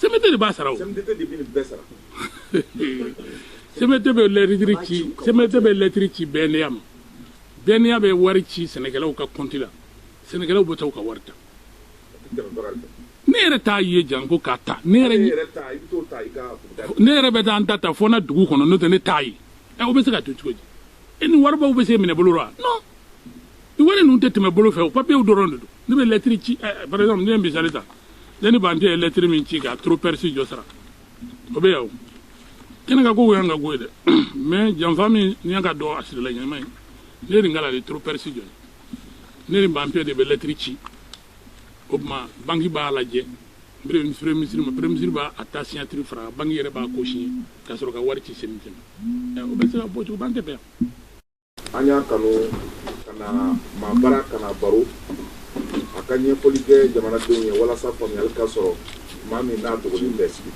CMDT de b'a sara o CMDT de bɛ nin bɛɛ sara CMDT bɛ lɛtiri ci CMDT bɛ lɛtiri ci BNDA ma BNDA bɛ wari ci sɛnɛkɛlaw ka kɔnti la sɛnɛkɛlaw bɛ taa u ka wari ta ne yɛrɛ t'a ye janko k'a ta ne yɛrɛ ne yɛrɛ bɛ taa n ta ta fo n na dugu kɔnɔ n'o tɛ ne t'a ye ɛ o bɛ se ka dun cogo di ɛ nin waribaw bɛ se minɛ bolo la non i wari ninnu tɛ tɛmɛ bolo fɛ o papiyew dɔrɔn de don ne bɛ lɛtiri ci eh, par exemple ne ye misali ta ne ni bante ye lɛtiri min ci ka trop perçu jɔ sara o bɛ yan o kɛnɛ ka ko o y'an ka ko ye dɛ mais janfa min ni y'an ka dɔn a sirila ɲɛnama ye ne nin kala de trop perçu jɔ ne ni bante de bɛ lɛtiri ci o tuma banki b'a lajɛ premier ministre ma premier ministre b'a ta signature fara banki yɛrɛ b'a ko siɲɛ ka sɔrɔ ka wari ci CMDT ma o bɛ se ka bɔ cogo b'an tɛ bɛn an y'a kanu ka na maa bara ka na baro a ka ɲɛfɔli kɛ jamanadenw ye walasa faamuyali ka sɔrɔ maa min n'a dɔgɔnin bɛ sigi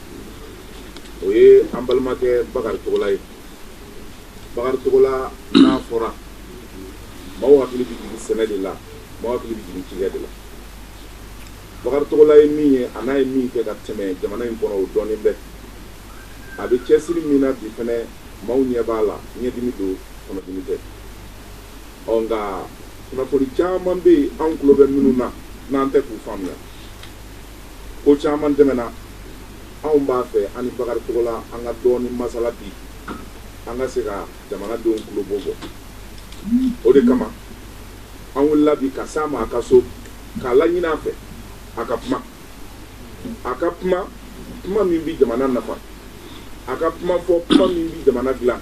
o ye an balimakɛ bakari togola ye bakari togola n'a fɔra maaw hakili bɛ jigin sɛnɛ de la maaw hakili bɛ jigin cikɛ de la bakari togola ye min ye an'a ye min kɛ ka tɛmɛ jamana in kɔnɔ o dɔɔnin bɛ A bɛ cɛsiri min na bi fɛnɛ, maaw ɲɛ b'a la, ɲɛdimi don, kɔnɔdimi tɛ. Ɔ nka kunnafoni caman bɛ yen, anw tulo bɛ minnu na, n'an tɛ k'u faamuya. Ko caman tɛmɛna, anw b'a fɛ an ni Bakari Togola an ka dɔɔnin masala bi, an ka se ka jamanadenw tulobo bɔ. O de kama, an wulila bi ka s'a ma a ka so, k'a laɲini a fɛ, a ka kuma. a ka kuma kuma min bɛ jamana nafa a ka kuma fɔ kuma min bɛ jamana dilan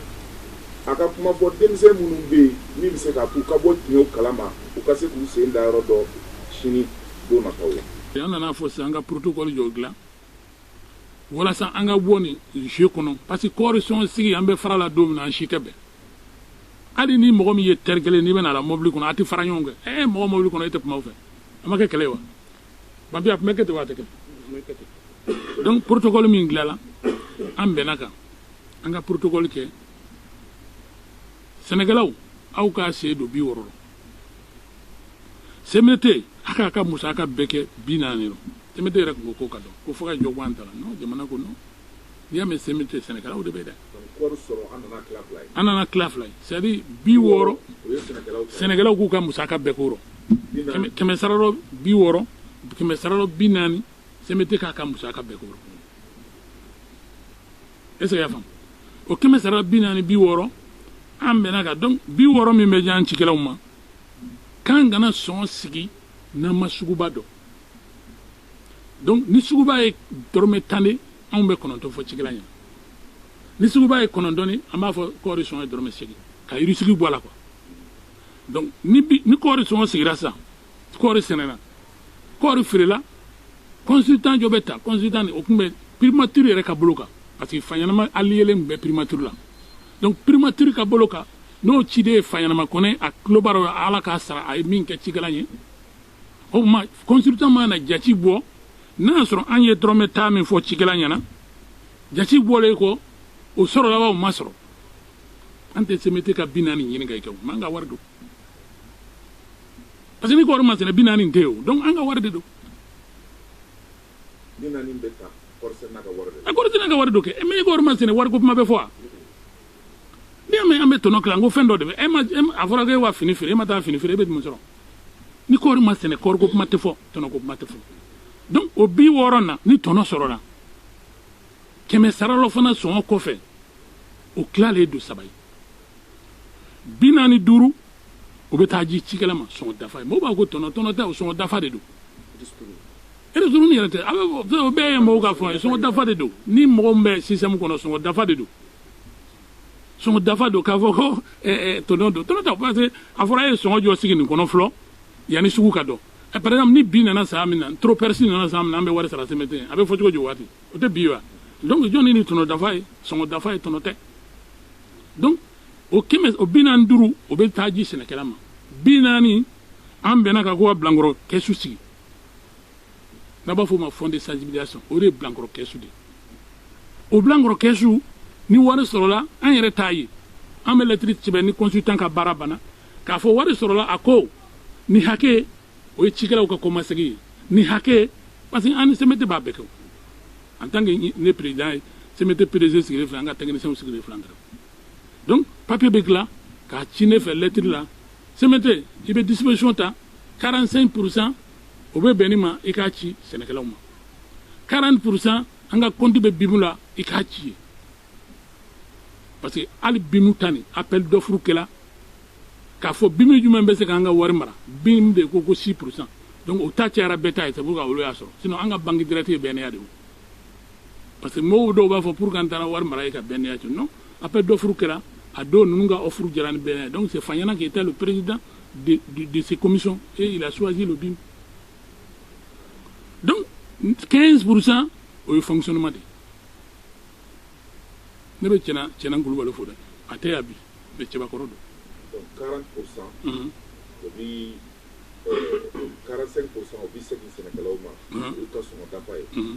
a ka kuma fɔ denmisɛn minnu bɛ yen min bɛ se k'a k'u ka bɔ tiɲɛw kalama u ka se k'u sen da yɔrɔ dɔn sini don nataw la. an nan'a fɔ sisan an ka protocole jɔ dilan walasa an ka bɔ nin jeu kɔnɔ parce que kɔɔri sɔn sigi an bɛ fara la don min na an si tɛ bɛn hali ni mɔgɔ min ye teri kelen n'i bɛna a la mɔbili kɔnɔ a tɛ fara ɲɔgɔn kan ɛ mɔgɔ mɔbili kɔnɔ e tɛ kuma o fɛ a ma kɛ kɛlɛ ye wa. ma bi a tun bɛ kɛ ten wa a tɛ kɛ donc protocole min dilanna an bɛnn'a kan an ka protocole kɛ sɛnɛkɛlaw aw k'a sen don bi wɔɔrɔ la CMDT a k'a ka musaka bɛɛ kɛ bi naani la CMDT yɛrɛ tun ko k'o ka dɔgɔn ko fo ka jɔ bɔ an ta la non jamana ko non n'i y'a mɛn CMDT sɛnɛkɛlaw de bɛ dɛ an nan'a tila fila ye c'est à dire bi wɔɔrɔ sɛnɛkɛlaw k'u ka musaka bɛɛ k'o rɔ kɛmɛ sara rɔ bi wɔɔrɔ kɛmɛ sara rɔ bi naani CMDT k'a ka musaka bɛɛ k'o rɔ est ce que i y'a faamu o kɛmɛ sara la bi naani bi wɔɔrɔ an bɛnn'a kan donc bi wɔɔrɔ min bɛ di an cikɛlaw ma k'an kana sɔn sigi n'an ma suguba dɔn donc ni suguba ye dɔrɔmɛ tan de anw bɛ kɔnɔntɔn fɔ cikɛla ɲɛna ni suguba ye kɔnɔntɔn de an b'a fɔ kɔɔri sɔngɔ ye dɔrɔmɛ segin ka risque bɔ a la quoi donc ni bi ni kɔɔri sɔngɔ sigira sisan kɔɔri sɛnɛna kɔɔri feerela consultant jɔ bɛ ta consultant o tun bɛ primature yɛrɛ ka bolo kan parce que faɲanama ale yɛrɛ tun bɛ primature la donc primature ka bolo kan n'o ciden ye faɲanama kɔnɛ a tulo b'a la ala k'a sara a ye min kɛ cikɛla ye o tuma consultant mana jati bɔ n'a y'a sɔrɔ an ye dɔrɔmɛ tan min fɔ cikɛla ɲɛna jati bɔlen kɔ o sɔrɔla wa o ma sɔrɔ an tɛ CMDT ka bi naani ɲini ka i kɛ mais an ka wari don parce que ni kɔɔri ma sɛnɛ bi naani tɛ o donc an ka wari de don a kɔɔri sɛnɛna ka wari don kɛ mais ni kɔɔri ma sɛnɛ wari ko kuma bɛ fɔ wa n'i y'a mɛn an bɛ tɔnɔ kila n ko fɛn dɔ de bɛ e ma a fɔra k'e wa fini feere e ma taa fini feere e bɛ jumɛn sɔrɔ ni kɔɔri ma sɛnɛ kɔɔri ko kuma tɛ fɔ tɔnɔ ko kuma tɛ fɔ donc o bi wɔɔrɔ na ni tɔnɔ sɔrɔla kɛmɛ sara la fana sɔngɔ kɔfɛ o tilalen don saba ye bi naani duuru o bɛ taa ji cikɛla ma sɔngɔ dafa ye mɔgɔw b'a ko tɔnɔ tɔnɔ tɛ o sɔngɔ dafa de don ristourne yɛrɛ tɛ o bɛɛ ye mɔgɔw ka fɔ ye sɔngɔ dafa de don ni mɔgɔ min bɛ système kɔnɔ sɔngɔ dafa de don sɔngɔ dafa don k'a fɔ ko ɛɛ tɔnɔ don tɔnɔ tɛ parce que a fɔra e ye sɔngɔ jɔ sigi nin kɔnɔ fɔlɔ yanni sugu ka dɔn ɛ par exemple ni bin nana san min na trop perçu nana san min na an bɛ wari sara CMDT a bɛ fɔ cogo di waati o tɛ bin wa donc jɔnni ni tɔnɔ dafa ye sɔngɔ dafa ye tɔnɔ tɛ donc o kɛmɛ o bi naani duuru o bɛ taa ji sɛnɛkɛla ma bi naani an bɛnna a kan ko ka bilankɔrɔ kɛsu sigi n'a b'a fɔ o ma fond de sensibilisation o de ye bilankɔrɔ kɛsu de o bilankɔrɔ kɛsu ni wari sɔrɔla an yɛrɛ t'a ye an bɛ lɛtiri sɛbɛn ni consultant ka baara banna k'a fɔ wari sɔrɔla a ko nin hakɛ o ye cikɛlaw ka kɔmasegin ye nin hakɛ parce que an ni CMDT b'a bɛɛ kɛ en tant que ne président ye CMDT PDG sigilen filɛ an ka technicienw sigilen filɛ an kɛrɛfɛ donc papier bɛ dilan k'a ci ne fɛ lɛtiri la CMDT i bɛ disposition ta 45 pourcent o bɛ bɛn nin ma i k'a ci sɛnɛkɛlaw ma 40 pourcent an ka compte bɛ BIM la i k'a ci yen parce que hali BIM ta nin appel d'offre kɛla k'a fɔ BIM jumɛn bɛ se k'an ka wari mara BIM de ko ko 6 pourcent donc o ta cayara bɛɛ ta ye c'est pour que olu y'a sɔrɔ sinon an ka banque directe ye BNDA de ye parce que mɔgɔw dɔw b'a fɔ pourquoi an taara wari mara yen ka BNDA to non appel d'offres kɛra a dɔw ninnu ka offre diyara ni BNDA donc c'est Fanyana qui était le président de, de, de ces commissions et il a choisi le BIM donc 15 pour cent o ye fonctionnement de ne bɛ cɛna cɛna kulubali fo dɛ a tɛ yan bi mais cɛbakɔrɔ don. donc 40 pour cent. Mhm. o bi 45 euh, pour cent o bi segin sɛnɛkɛlaw ma. olu ka sɔngɔ dafa ye. Mhm.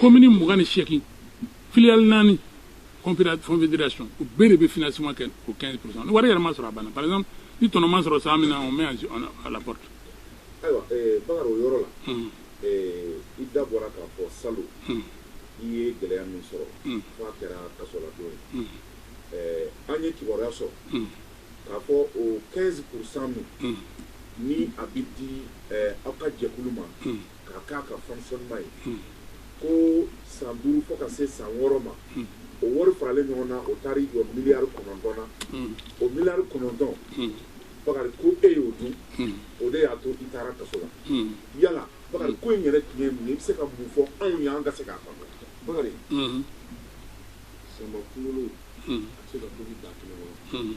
komini mugan ni seegin filiyali naani confédération u bɛɛ de bɛ financement kɛ o 15 pourcent ni wari yɛrɛ ma sɔrɔ a banna par exemple ni tɔnɔ ma sɔrɔ san min na on met à la porte. ayiwa eh, bakari o yɔrɔ la hmm. eh, i da bɔra k'a fɔ salon hmm. i ye gɛlɛya min sɔrɔ hmm. f'a kɛra kasoladon ye eh, an ye kibaruya sɔrɔ k'a fɔ o 15 pourcent min ni a bɛ di aw ka jɛkulu ma k'a k'a ka fonctionnement ye ko san duuru fo ka se san wɔɔrɔ ma o wari faralen ɲɔgɔn na o taara i jɔ miliyari kɔnɔntɔn na o miliyari kɔnɔntɔn bakari ko e y'o dun o de y'a to i taara kaso la yala bakari ko in yɛrɛ tun ye mun ye i bɛ se ka mun fɔ anw ye an ka se k'a faamu bakari sɛnbɛ kunkolo a tɛ se ka tobi daga kelen kɔnɔ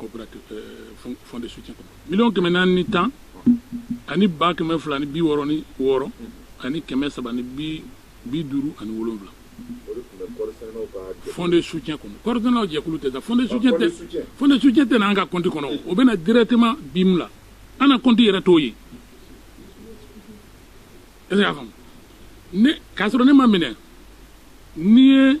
coopérative euh, fond de soutien kɔnɔ miliyɔn kɛmɛ naani ni tan ani ba kɛmɛ fila ni bi wɔɔrɔ ni wɔɔrɔ ani kɛmɛ saba ni bi bi duuru ani wolonwula fond de soutien kɔnɔ kɔɔrisɛnɛlaw jɛkulu tɛ sa fond de soutien tɛ fond de soutien tɛ na an ka kɔnti kɔnɔ o bɛ na directement BIM la an na kɔnti yɛrɛ t'o ye est ce que y'a faamu ne k'a sɔrɔ ne ma minɛ n'i ye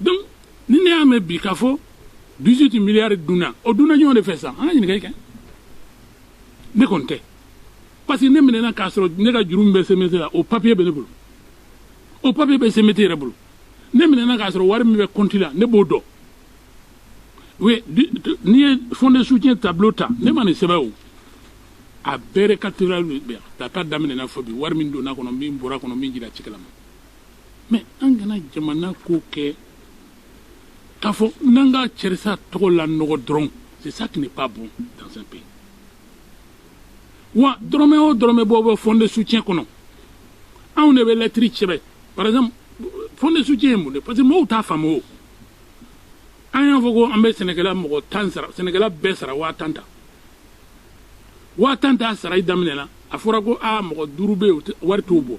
donc ni ne y'a mɛn bi k'a fɔ 18 miliyari dunna o dunna jɔn de fɛ sisan an ka ɲininkali kɛ ne kɔni tɛ parce que ne minɛna k'a sɔrɔ ne ka juru min bɛ CMDT la o papiye bɛ ne bolo o papiye bɛ CMDT yɛrɛ bolo ne minɛna k'a sɔrɔ wari min bɛ kɔnti la ne b'o dɔn oui n'i ye fond de soutien tableau ta ne ma nin sɛbɛn o a bɛɛ récapitulatif bɛ yan k'a ta daminɛ na fo bi wari min donna kɔnɔ min bɔra kɔnɔ min dira cikɛla ma mais an kana jamana ko kɛ k'a fɔ n'an ka karisa tɔgɔ lanɔgɔ dɔrɔn c'est ça qui n'est pas bon dans un pays wa dɔrɔmɛ o dɔrɔmɛ bɔ bɛ fond de soutien kɔnɔ anw de bɛ lɛtiri sɛbɛn par exemple fond de soutien ye mun de parce que mɔgɔw t'a faamu o an y'a fɔ ko an bɛ sɛnɛkɛla mɔgɔ tan sara sɛnɛkɛla bɛɛ sara waa tan tan waa tan tan sarali daminɛna a fɔra ko aa mɔgɔ duuru bɛ yen wari t'u bɔ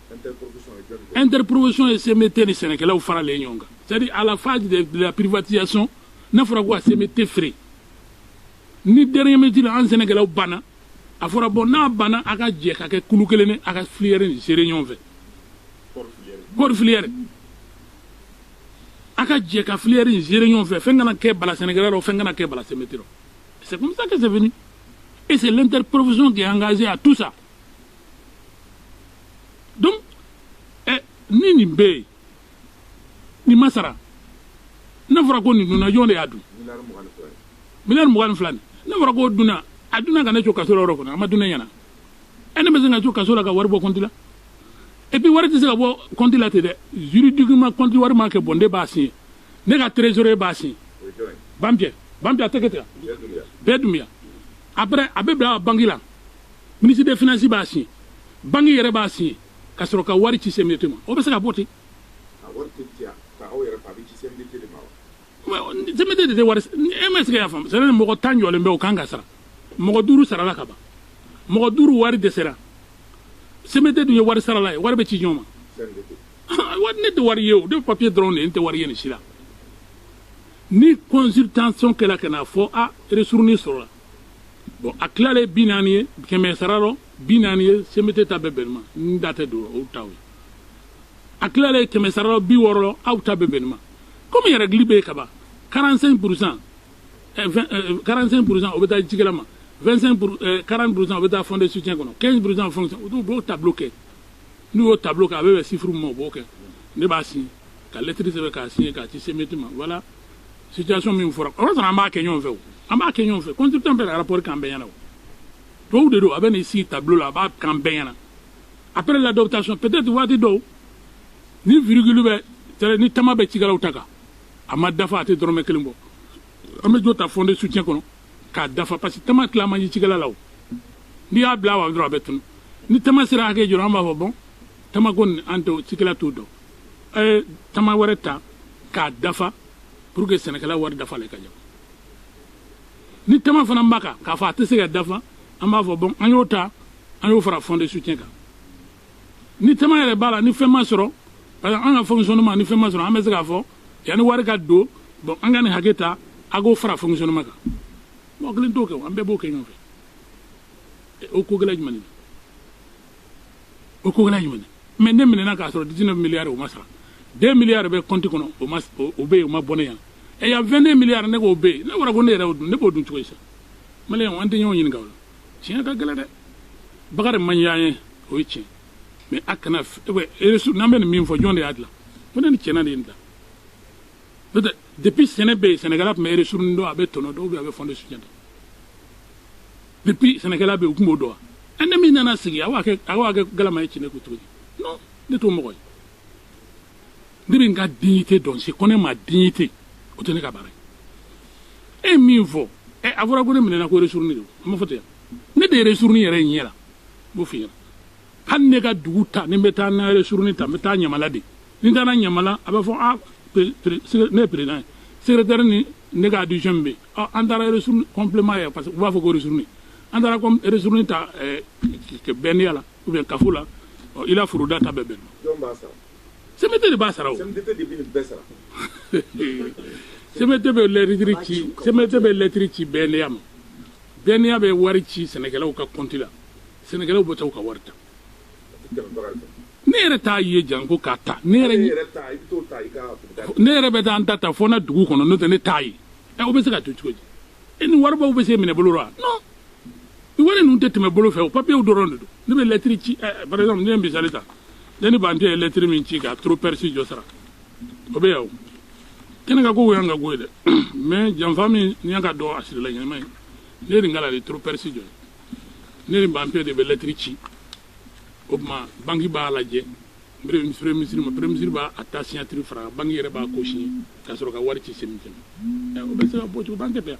Interprofession ye CMDT ni sɛnɛkɛlaw faralen ɲɔgɔn kan c'est à dire à la phase de la privatisation n'a fɔra ko ka CMDT feere ni dernier minute la an sɛnɛkɛlaw banna a fɔra bon n'a banna a ka jɛ ka kɛ kulu kelen a ka filière in gérer ɲɔgɔn fɛ kɔɔri filière a ka jɛ ka filière in gérer ɲɔgɔn fɛ fɛn kana kɛ bala sɛnɛkɛla la fɛn kana kɛ bala CMDT la c'est comme ça que c'est venu et c'est l'interprofession qui est engagée à tout ça donc ɛ ni nin bɛ yen nin ma sara n'a fɔra ko nin dunna jɔn de y'a dun miliyari mugan ni fila nin n'a fɔra k'o dunna a dunna ka ne to kaso la yɔrɔ kɔnɔ a ma dun ne ɲɛna ɛ ne bɛ se ka to kaso la ka wari bɔ kɔnti la et puis wari tɛ se ka bɔ kɔnti la ten dɛ juridiquement kɔnti wari ma kɛ bɔn ne b'a signé ne ka trésorier b'a signé banpiyɛ banpiyɛ a tɛ kɛ ten bɛɛ dunya après a bɛ bila banki la minisiri de finansi b'a siɲɛ banki yɛrɛ b'a siɲɛ ka sɔrɔ ka wari ci CMDT ma o bɛ se ka bɔ ten CMDT de tɛ wari e ma se ka y'a faamu c'est à dire mɔgɔ tan jɔlen bɛ o kan ka sara mɔgɔ duuru sarala ka ban mɔgɔ duuru wari dɛsɛra CMDT dun ye wari sarala ye wari bɛ ci jɔn ma ne tɛ wari ye o ne papiye dɔrɔn de ye n tɛ wari ye nin si la ni consultation kɛra ka na fɔ a ristourne sɔrɔla bon a tilalen bi naani ye kɛmɛ sara rɔ bi naani ye CMDT ta bɛ bɛn o ma n da tɛ don o taw ye a tilalen kɛmɛ sara rɔ bi wɔɔrɔ rɔ aw ta bɛ bɛn o ma komi règle bɛ yen kaban 45 pourcent 45 pourcent o bɛ taa cikɛla ma 25 pour 40 pourcent o bɛ taa fond de soutien kɔnɔ 15 pourcent fonction u b'o tableau kɛ n'u y'o tableau kɛ a bɛ bɛn chiffre min ma o b'o kɛ ne b'a signé ka lɛtiri sɛbɛn k'a signé k'a ci CMDT ma voilà situation min fɔra o y'a sɔrɔ an b'a kɛ ɲɔgɔn fɛ o an b'a kɛ ɲɔgɔn fɛ consultant bɛ rapport k'an bɛɛ ɲɛna o tubabu de don a bɛ n'i sigi tableau la a b'a k'an bɛɛ ɲɛna après l'adoptation peut-être waati dɔw ni virgule bɛ c'est-à-dire ni tama bɛ cikɛlaw ta kan a ma dafa a tɛ dɔrɔmɛ kelen bɔ an bɛ dɔ ta fond de soutien kɔnɔ k'a dafa parce que tama tila man di cikɛla la o n'i y'a bila a wa dɔrɔn a bɛ tunu ni tama sera hakɛ dɔ rɔ an b'a fɔ bon tama ko nin an tɛ cikɛla t'o dɔn a ye tama wɛrɛ ta k'a dafa pour que sɛnɛkɛla wari dafalen ka ɲɛ ni tama fana b'a kan k'a fɔ a tɛ se ka dafa an b'a fɔ bon an y'o ta an y'o fara fond de soutien kan ni tama yɛrɛ b'a la ni fɛn ma sɔrɔ parce que an ka fonctionnement ni fɛn ma sɔrɔ an bɛ se k'a fɔ yanni wari ka don bon an ka nin hakɛ ta a k'o fara fonctionnement kan mɔgɔ kelen t'o kɛ o an bɛɛ b'o kɛ ɲɔgɔn fɛ o ko gɛlɛn jumɛn de don o ko gɛlɛn jumɛn mais ne minɛna k'a sɔrɔ 19 miliyari o ma sara 2 miliyari bɛ kɔnti kɔnɔ o ma o bɛ yen o ma bɔ ne ɲɛna ɛ y a 22 miliyari ne k'o bɛ yen ne fɔra ko ne yɛrɛ y'o dun ne b'o dun cogo di sa maliyɛnw an tɛ ɲɔgɔn ɲininka o la tiɲɛ ka gɛlɛn dɛ bakari man d'an ye o ye tiɲɛ mais a kana eresu n'an bɛ nin min fɔ jɔn de y'a dilan ko ne ni tiéna de ye nin dilan n'o tɛ depuis sɛnɛ bɛ yen sɛnɛkɛla tun bɛ ristourne dɔn a bɛ tɔnɔ dɔn ou bien a bɛ fonds de soutien dɔn depuis sɛnɛkɛla bɛ u tun b'o dɔn wa ne min nana sigi aw b'a kɛ galama ye ci ne kun cogo di non ne t'o mɔgɔ ye ne bɛ n ka dignité dɔn je connais ma dignité o tɛ ne ka baara ye e min fɔ ɛ a fɔra ko ne minɛna ko ristourne de a ma fɔ ten ne de ye ristourne yɛrɛ ɲɛ la n b'o f'i ɲɛna hali ne ka dugu ta ni n bɛ taa n ka ristourne ta n bɛ taa ɲamala de ni n taara ɲamala a bɛ fɔ a ne ye président ye secrétaire ni ne ka adjoint min bɛ yen an taara ristourne complément ye parce que u b'a fɔ ko ristourne an taara comme ristourne ta BNDA la ou bien kafo la i la foroda ta bɛɛ bɛn jɔn b'a sara CMDT de b'a sara o CMDT de bɛ nin bɛɛ sara CMDT bɛ lɛtiri ci CMDT bɛ lɛtiri ci BNDA ma BNDA bɛ wari ci sɛnɛkɛlaw ka compte la sɛnɛkɛlaw bɛ taa u ka wari ta ne yɛrɛ t'a ye janko k'a ta ne yɛrɛ ne yɛrɛ bɛ taa an ta ta fɔ na dugu kɔnɔ n'o tɛ ne t'a ye ɛ o bɛ se ka to cogo di e ni waribaw bɛ se minɛ bolo la non ni wari ninnu tɛ tɛmɛ bolo fɛ o papiyew dɔrɔn de don ne bɛ lɛtiri ci ɛ par exemple ne ye misali ta ne ni banpiɛ ye lɛtiri min ci ka trop perçu jɔ sara o bɛ yan o kɛnɛ ka ko o y'an ka ko ye dɛ mais janfa min ni y'an k'a dɔn a sirila ɲɛnama ye ne ye nin k'a la de trop perçu jɔ ye ne ni banpiɛ de bɛ lɛtiri ci o tuma banki b'a lajɛ premier ministre ma premier ministre b'a ta signature fara banki yɛrɛ b'a ko signé ka sɔrɔ ka wari ci CMDT ma o bɛ se ka bɔ cogo banki tɛ yan